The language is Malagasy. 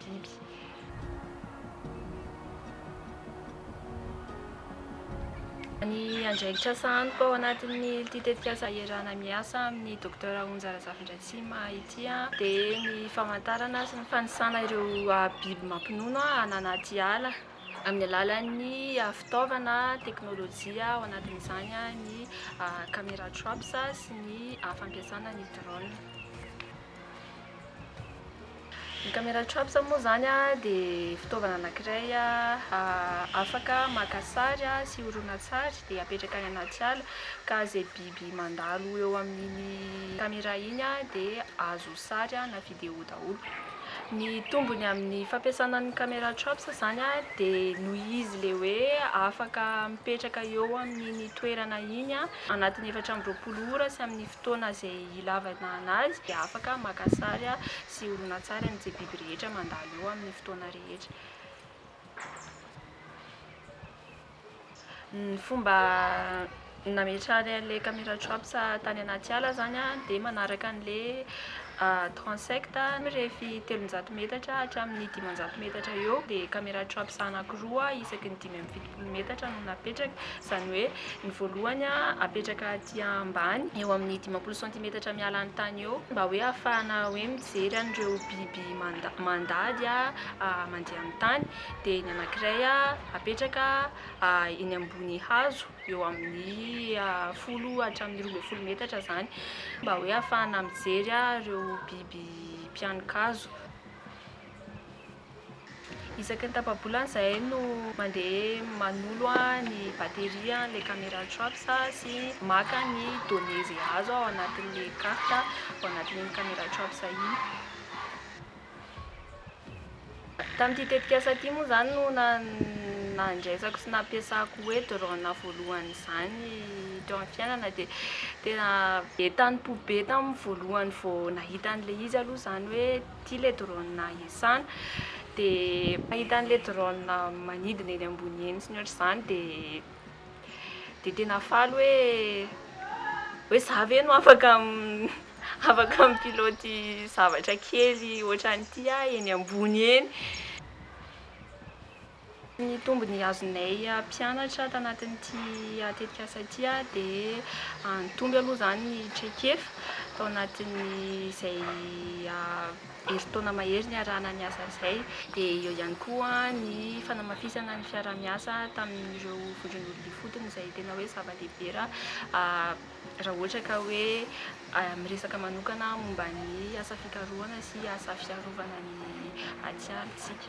biby. Ny andraikitra sahaniko ao anatin'ity tetikasa iarahana miasa amin'ny Docteur Onja Razafindratsima ity dia ny famantarana sy ny fanisana ireo biby mampinono any anaty ala amin'ny alalan'ny fitaovana teknolojia ao anatin'izany ny camera traps sy ny fampiasana ny drones. Ny camera traps moa izany dia fitaovana anankiray afaka maka sary sy horonantsary dia apetraka any anaty ala ka izay biby mandalo eo amin'iny camera iny dia azo sary na video daholo. Ny tombony amin'ny fampiasana ny camera traps izany dia noho izy ilay hoe afaka mipetraka eo amin'iny toerana iny anatin'ny efatra amby roapolo ora sy amin'ny Fotoana izay hilavana anazy dia afaka maka sary sy horonantsary an'izay biby rehetra mandalo eo amin'ny fotoana rehetra. Ny fomba nametrahany an'ilay camera traps tany anaty ala izany dia manaraka an'ilay transect mirefy telonjato metatra hatramin'ny dimanjato metatra eo dia camera traps anankiroa isaky ny dimy amby fitopolo. folo metatra no napetraka, izany hoe ny voalohany apetraka aty ambany eo amin'ny dimampolo santimetatra miala ny tany eo mba hoe hahafahana hoe mijery an'ireo biby mandady mandeha amin'ny tany, dia ny anankiray apetraka eny ambony hazo eo amin'ny folo hatramin'ny roa ambin'ny folo metatra izany mba hoe hahafahana mijery ireo biby mpihanon-kazo. Isaky ny tapa-bolana izahay no mandeha manolo ny batterie an'ilay camera traps sy maka ny données izay azo ao anatin'ilay carte ao anatin'iny camera traps iny. Tamin'ity tetikasa ity moa izany no nandraisako sy nampiasako hoe drone voalohany izany teo amin'ny fiainana dia tena be tampo-be tamin'ny voalohany vao nahita an'ilay izy aloha izany hoe ity le drone iasana dia mahita an'ilay drone manidina eny ambony eny sy ny ohatr'izany dia dia tena faly hoe hoe za ve no afaka afaka mi-pilote zavatra kely ohatran'ity aho eny ambony eny Ny tombony azonay mpianatra tanatin'ity tetikasa ity dia nitombo aloha izany ny traikefa tao anatin'izay herintaona mahery niarahana niasa izay. Dia eo ihany koa ny fanamafisana ny fiaraha-miasa tamin'ireo vondron'olona ifotony izay tena hoe zava-dehibe raha ohatra ka hoe miresaka manokana momba ny asa fikarohana sy asa fiarovana ny atiala isika.